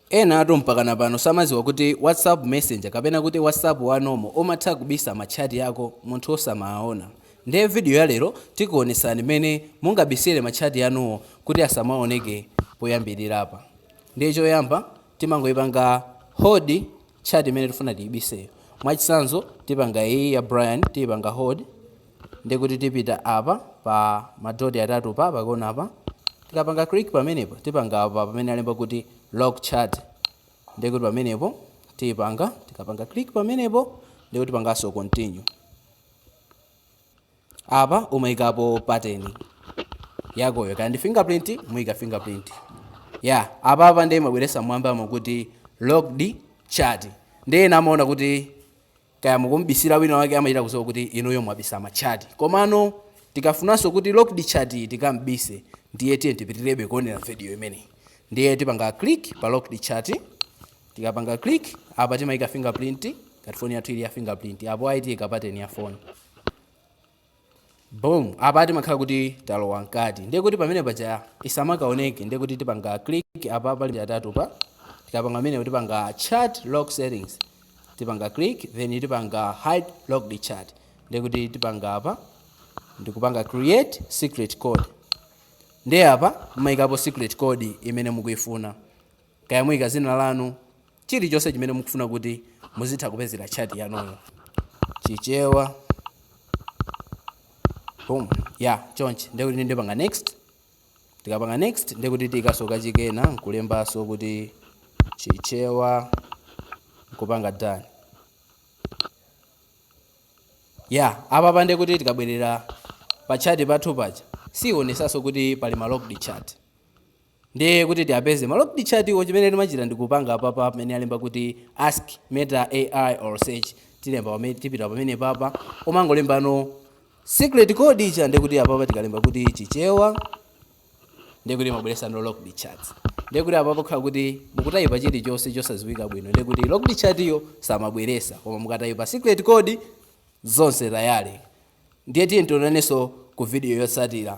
Enatu mpakana pano samaziwa kuti whatsapp messenger kapena kuti whatsapp wa normal umatha kubisa ma chat ako munthu osamawaona nde video ya lero tikuonetsani mmene mungabisile ma chat anuwo kuti asamaoneke poyambilirapa ndiye choyamba timangoipanga hold chat imene tifuna tiibiseyo mwachitsanzo tipanga iyi ya Brian tiipanga hold ndiye kuti tipita apa pa ma dot atatu pa pakona apa tikapanga click pamenepo tipanga apa pamene alemba kuti lock chat ndiye kuti pamenepo tipanga tikapanga click pamenepo ndiye kuti pangaso continue apa umaikapo pattern yakoyo kaya ndi fingerprint muika fingerprint ya yeah. apa apa ndiye mabweresa mmwambamu kuti locked chat ndiye amaona kuti kaya mukumubisira wina wake amachita kuziwa kuti inuyo mwabisa ma chat komano tikafunanso kuti locked chat iyi tikaibise ndiye tiyeni tipitirebe kuonera video imeneyi ndiye tipanga click pa locked chat tikapanga click apa timayika fingerprint ngati foni yathu ili ya fingerprint apo ayi tiyika pattern ya foni Boom! Apa timakhala kuti talowa mkati. Ndiye kuti pamene paja isamakaoneke, ndiye kuti tipanga click apa pa line zitatu pa. Tikapanga pamene tipanga chat lock settings. Tipanga click then tipanga hide locked chat. Ndiye kuti tipanga apa ndikupanga create secret code. Ndiye apa mumayikapo secret code imene mukuifuna. Kaya muika zina lanu, chilichonse chimene mukufuna kuti muzitha kupezera chat yanuyo. Chichewa. Boom. Ya, chonchi. Ndiye kuti ndipanga next. Tikapanga next, ndiye kuti tiikaso kachikena, nkulembaso kuti Chichewa, nkupanga done. Ya, apapa nde kuti tikabwerera pa chat pathu paja, siionesaso kuti pali ma locked chat. Ndiye kuti tiapeze ma locked chat wo chimene timachita ndi kupanga apapa pamene alemba kuti ask meta AI or search tilemba pamene tipita pamene papa umangolembano secret code ija ndiye kuti apapa tikalemba kuti chichewa ndiye kuti imabweresano locked chats ndiye kuti apapa kakhala kuti mukutayipa chilichonse chosadziwika bwino ndiye kuti locked chat yo simabweresa koma mukatayipa secret code zonse tayale ndiye tiye tionanenso ku video yotsatira